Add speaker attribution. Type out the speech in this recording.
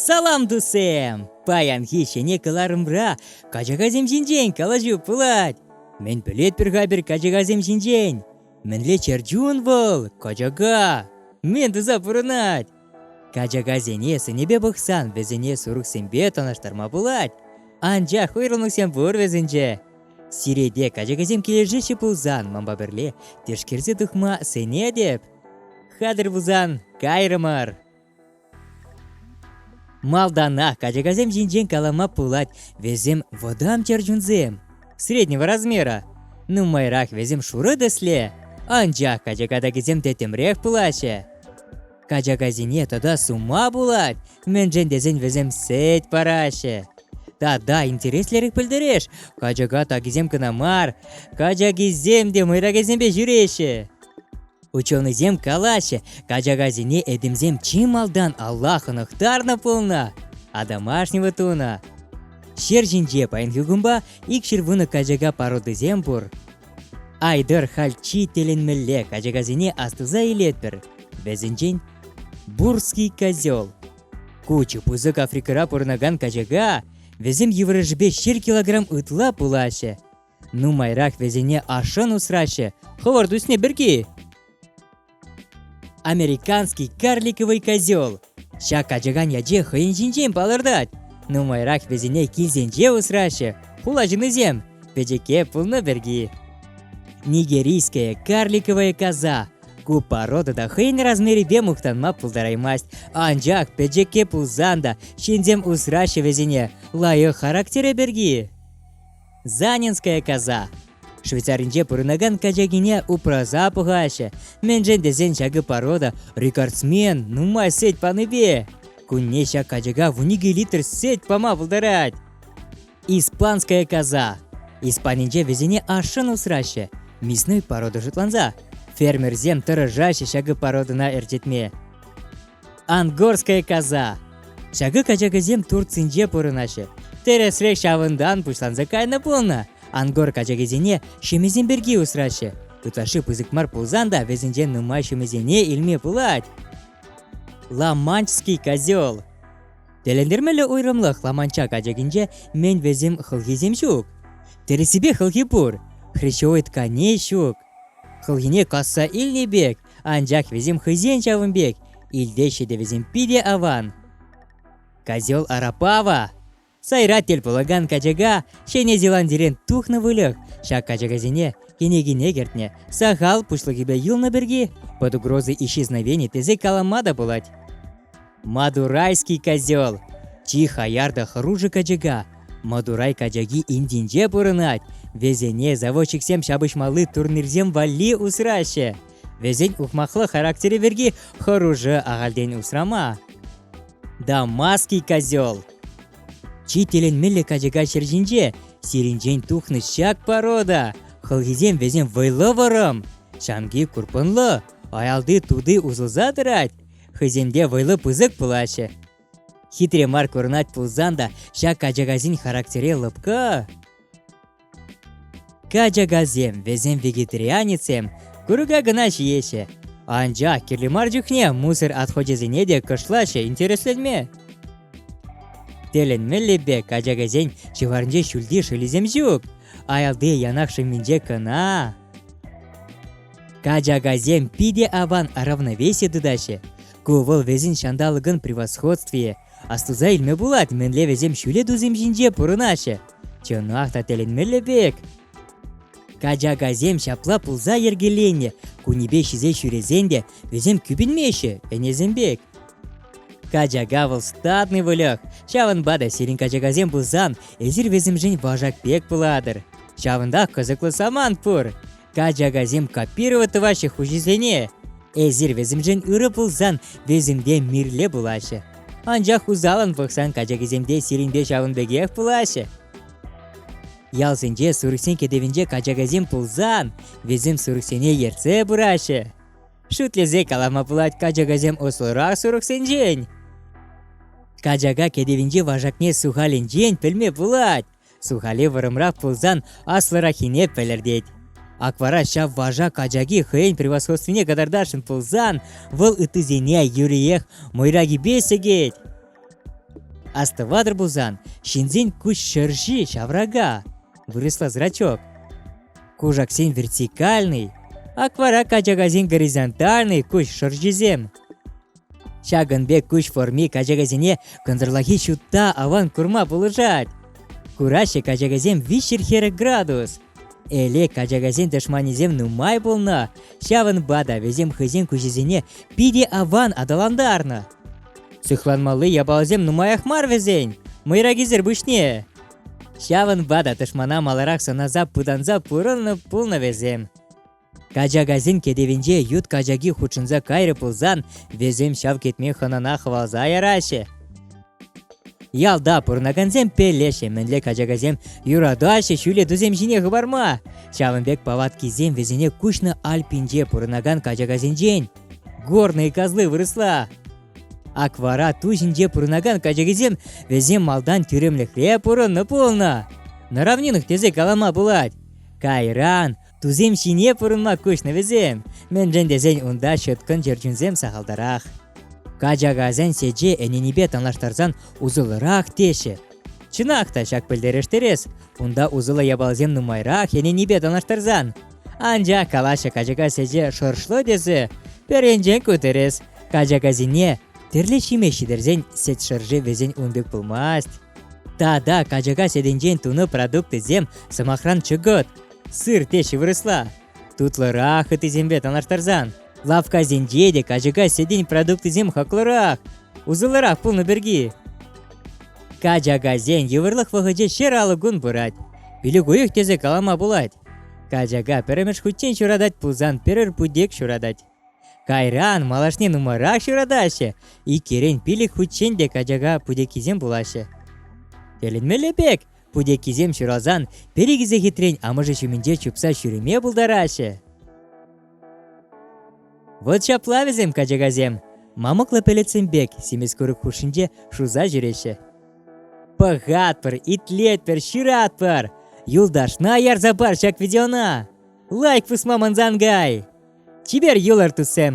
Speaker 1: Салам, тусем! Паянхи ҫӗнӗ кӑларӑмра качакасем ҫинчен калаҫу пулать. Мӗн пӗлетпӗр-ха пӗр качакасем ҫинчен? Мӗнле чӗрчун вӑл, качака? Мӗн туса пурӑнать? Качакасене сӑнӗпе пӑхсан вӗсене сурӑхсемпе танлаштарма пулать. Анчах уйрӑлнӑхсем пур вӗсенче. Сирете качакасем килӗшеҫҫӗ пулсан манпа пӗрле тишкерсе тухма сӗнетӗп. Хатӗр пулсан кайрӑмӑр. Малтанах качакасем ҫинчен калама пулать вӗсем вӑтам чӗрчунсем. среднего размера. Нумайрах вӗсем шурӑ тӗсле, анчах качака такисем тӗттӗмрех пулаҫҫӗ. Качакасене тата сума пулать, мӗншӗн тесен вӗсем сӗт параҫҫӗ. Тата интереслӗрех пӗлтереш, качака такисем кӑна мар, качакисем те мӑйракесемпе ҫӳреҫҫӗ. Ученӑйсем калаҫҫӗ, качакасене этемсем чи малтан алла хӑнӑхтарнӑ пулнӑ, атамашнего тунӑ. Ҫер ҫинче паянхи кунпа икҫӗр вунӑ качака породисем пур. Айтӑр хальччи тӗлӗнмелле качакасене астуса илетпӗр. Вӗсенчен Бурский козел. Ку чи пысӑк Африкӑра пурӑнакан качака. Вӗсем йывӑрӑшӗпе ҫыр килограмм ытла пулаҫҫӗ. Нумайрах вӗсене ашшӗн усраҫҫӗ хӑвӑрт ӳсни пирки. Американский карликовый козел Ҫак ачакан яче хӑйӗн ҫинчен палӑртать. Нумайрах вӗсене килсенче усраҫҫӗ хула ҫыннисем пӗчӗкке пулнӑ пирки. Нигерийская карликовая коза Ку порода та хӑйӗн размерӗпе мухтанма пултараймасть, анчах пӗчӗкке пулсан та ҫынсем усраҫҫӗ вӗсене лайӑх характерӗ пирки. Занинская коза. Швейцаринче пурӑнакан качакине упраса пӑхаҫҫӗ. Мӗншӗн тесен ҫакӑ порода рекордсмен нумай сӗт панипе. Кунне ҫак качака вуникӗ литр сӗт пама пултарать. Испанская коза. Испанинче вӗсене ашшӗн усраҫҫӗ. Мясной порода шутланса, фермерсем тӑрӑшаҫҫӗ ҫакӑ породӑна ӗрчетме. Ангорская коза. Ҫакӑ качакасем Турцинче пурӑнаҫҫӗ. Тӗрӗсрех ҫавӑнтан пуҫланса кайнӑ пулнӑ. Ангор качакисене ҫемьесем пирки усраҫҫӗ. Ытлашши пысӑк мар пулсан та вӗсенчен нумай ҫемьесене илме пулать. Ламанчский козел Тӗлӗнтермелле уйрӑмлӑх Ламанча качакинче мӗн вӗсем хӑлхисем ҫук. Тӗрӗссипе хӑлхи пур, хрящевой тканей ҫук. Хӑлхине касса илнӗ пек Анчах вӗсем хӑйсен ҫавӑн пек илте ҫитӗвӗсем питӗ аван. Козел Арапава Сайра тӗл пулакан качака Ҫӗнӗ Зеландирен тухнӑ выльӑх. Ҫак качакасене кӗнекине кӗртнӗ. Сахал пуҫлӑхӗпе юлнӑ пирки под угрозой исчезновения тесе калама та пулать. Мадурайский козел чи хаяр та хӑрушӑ качака Мадурай качаки Индинче пурӑнать. Вӗсене заводчиксем ҫапӑҫмалли турнирсем валли усраҫҫӗ. Вӗсен ухмахлӑ характерӗ пирки хӑрушӑ ахальтен усрама. Дамасский козел Чи тӗлӗнмелле качака ҫӗр ҫинче сирӗнчен тухнӑ ҫак порода. Хӑлхисем вӗсем вӑйлӑ вӑрӑм, ҫамки курпӑнлӑ, аялти тути усӑлса тӑрать. хӑйсемте вӑйлӑ пысӑк пулаҫҫӗ. Хитре мар курӑнать пулсан та ҫак качакасен характере лӑпкӑ. Качакасем вӗсем вегетарианецсем курӑка кӑна ҫиеҫҫӗ. Анчах кирлӗ мар чухне мусор отходӗсене те кӑшлаҫҫӗ интересленме. Тӗлӗнмелле качакасен ҫӑварӗнче ҫӳлти шӑлисем ҫук. Аялти янах шӑмминче кӑна. Качакасем питӗ аван равновесие тытаҫҫӗ. Ку вӑл вӗсен ҫанталӑкӑн превосходствийӗ. Астуса илме пулать, мӗнле вӗсем ҫӳле тусем ҫинче пурӑнаҫҫӗ. Чӑнах та тӗлӗнмелле пек. Качакасем ҫапла пулса йӗркеленнӗ. Кунӗпе ҫисе ҫӳресен те вӗсем кӳпӗнмеҫҫӗ ӗнесем пек. Качака вӑл статный выльӑх. Ҫавӑнпа та сирӗн качакасем пулсан эсир вӗсемшӗн вашак пек пулатӑр. Ҫавӑнтах кӑсӑклӑ самант пур. Качакасем копировать тӑваҫҫӗ хуҫисене. Эсир вӗсемшӗн ырӑ пулсан вӗсемпе мирле пулаҫҫӗ. Анчах усалӑн пӑхсан качакисемте сирӗнпе ҫавӑн пекех пулаҫҫӗ. Ялсенче сурӑхсен кӗтӗвӗнче качакасем пулсан вӗсем сурӑхсене ертсе пыраҫҫӗ. Шӳтлесе калама пулать качакасем ӑслӑрах сурӑхсенчен. Качака кӗтӗвӗнчи вашакне сухалӗнчен пӗлме пулать. Сухали вӑрӑмрах пулсан аслӑраххине пӗлӗртет. Ак вара ҫав вожак ачаки хӑйӗн превосходствине кӑтартасшӑн пулсан, вӑл ыттисене юриех мӑйракипе сӗкет. Астӑватӑр пулсан, ҫынсен куҫ шӑрши ҫаврака, вырӑсла зрачок. Кушаксен вертикальный, ак вара качакасен горизонтальный куҫ шӑрҫисем. Ҫакӑн пек куҫ форми качакасене кӑнтӑрлахи ҫутта аван курма пулӑшать. Кураҫҫӗ качакасем виҫҫӗр хӗрӗ градус. Эле качакасен тӑшманӗсем нумай пулнӑ, ҫавӑнпа та вӗсем хӑйсен куҫӗсене питӗ аван аталантарнӑ. Сыхланмалли япаласем нумаях мар вӗсен, мӑйракисӗр пуҫне. Ҫавӑнпа та тӑшмана маларах сӑнаса пытанса пурӑннӑ пулнӑ вӗсем. Качакасен кӗтӗвӗнче ют качаки хутшӑнса кайрӗ пулсан, вӗсем ҫав кӗтме хӑнана хӑвалса яраҫҫӗ. Ялта пурӑнакансем пеллеҫҫӗ, мӗнле качакасем юратаҫҫӗ ҫӳле тусем ҫине хӑпарма. Ҫавӑн пек палаткисем вӗсене Куҫнӑ Альпинче пурӑнакан качакасенчен горные козлы вырасла. Аквара ту ҫинче пурӑнакан качакисем вӗсем малтан тӳрремлӗхре пурӑннӑ пулнӑ. Наравнинах тесе калама пулать. Кайран Тусем ҫине пурӑнма куҫнӑ вӗсем, мӗншӗн тесен унта ҫӑткӑн чӗрчунсем сахалтарах. Качакасен сече ӗненипе танлаштарсан усӑллӑрах теҫҫӗ. Чӑнах та ҫак пӗлтерӗштерес, унта усӑллӑ япаласем нумайрах ӗненипе танлаштарсан. Анчах калаҫҫӗ качака сече шӑршлӑ тесе, пӗринчен ку тӗрӗс, качакасене тӗрлӗ ҫимеҫ ҫитерсен сет шӑрши вӗсен ун пек пулмасть. Тата качака сетӗнчен тунӑ продукцисем, сӑмахран, чӑкӑт, Сыр теҫҫӗ вырӑсла. Тутлӑрах ытисемпе танлаштарсан. Лавккасенче те качака сетин продуктисем хаклӑрах, усӑллӑрах пулнӑ пирки. Качакасен йывӑрлӑх вӑхӑчӗ ҫӗр алӑк кун пырать. Пилӗк уйӑх тесе калама пулать. Качака пӗрремӗш хутчен ҫуратать пулсан пӗрер путек ҫуратать. Кайран малашне нумайрах ҫуратаҫҫӗ, иккӗрен пилӗк хутчен те качака путеккисем пулаҫҫӗ. Тӗлӗнмелле пек, путеккисем ҫуралсан пӗр-икӗ сехетрен амӑшӗ ҫумӗнче чупса ҫӳреме пултараҫҫӗ. Вот ҫапла вӗсем качакасем, мамӑклӑ пӗлӗтсем пек симӗс курӑк хушшинче шуса ҫӳреҫҫӗ. Пӑхатпӑр, итлетпӗр, ҫыратпӑр! Юлташна ярса пар ҫак видеона! Лайк пусма мансан кай! Чипер юлӑр, туссем!